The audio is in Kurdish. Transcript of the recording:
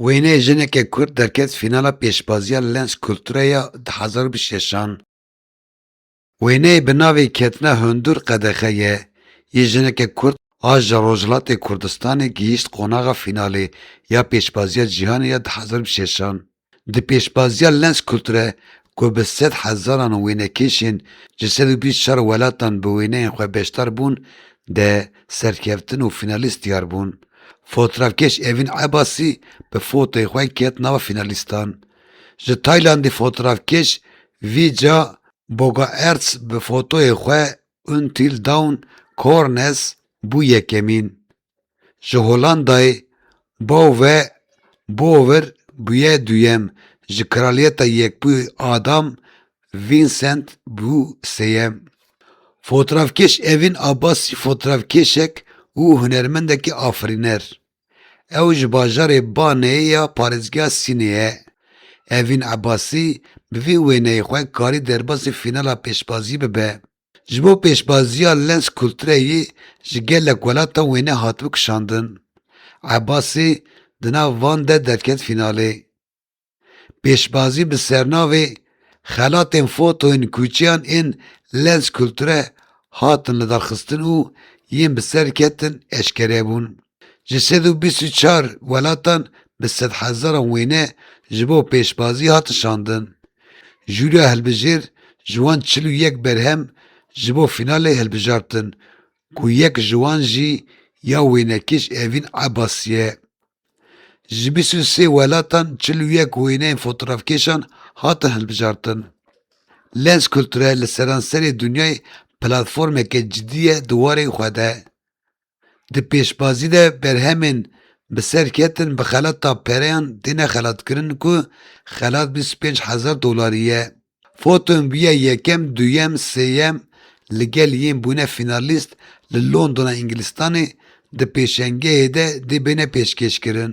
Wêneyê jineke kurd derket fînala pêşbaziya Lens Kulture ya du hezar û bîst û şeş an. Wêneyê bi navê Ketina hundur qedexe ye yê jineke kurd a ji Rojhilatê Kurdistanê gihîşt qonaxa fînalê ya pêşbaziya cîhanê ya du hezar û bîst û şeş an. Di pêşbaziya Lenskulture ku bi sed hezaran wênekêşên ji sed û bîst û çar welatan bi wêneyên xwe beşdar bûn de serkeftin û fînalîst diyar bûn. Fotrafkêş Evîn Ebasî bi fotoyê xwe ket nava fînalîstan. Ji Taylandê fotrafkêş Vija Bogaerts bi fotoyê xwe Until Dawn Corners bû yekemîn. Ji Holandayê Bauve Bauver bûye duyem, ji Kraliyeta Yekbûyî Adam Vincent bû sêyem. Fotrafkêş Evîn Abbasî fotrafkêşek û hunermendekî afirîner. Ew ji bajarê Baneyê ya parêzgeha Sînê ye. Evîn Abbasî bi vî wêneyê xwe karî derbasî fînala pêşbazî bibe. Ji bo pêşbaziya Lens Kulture yê ji gelek welata wêne hatibû kişandin, Ebasê di nav van de derket fînalê. Pêşbazî bi sernavê Xelatên fotoyên kûçeyan ên Lens Kulture hatin lidarxistin û yên bi ser ketin eşkere bûn. Ji sed û bîst û çar welatan bi sedhezaran wêne ji bo pêşbazî hatin şandin. Jûriya hilbijêr ji wan çil û yek berhem ji bo fînalê hilbijartin ku yek ji wan jî ya wênekêş Evîn Ebasî ye. Ji bîst û sê welatan çil û yek wêneyên fotografkêşan hatin hilbijartin. Lens Kulture li seranserê dinyayê platformeke cidî ye di warê xwe de. Di pêşbazî de berhemên bi ser ketin bi xelata pereyan têne xelatkirin ku xelat bîst û pênc hezar dolarî ye. Foton bûye yekem, duyem, sêyem li gel yên bûne fînalîst li Londona Îngilistanê di pêşengehê de dê bêne pêşkêşkirin.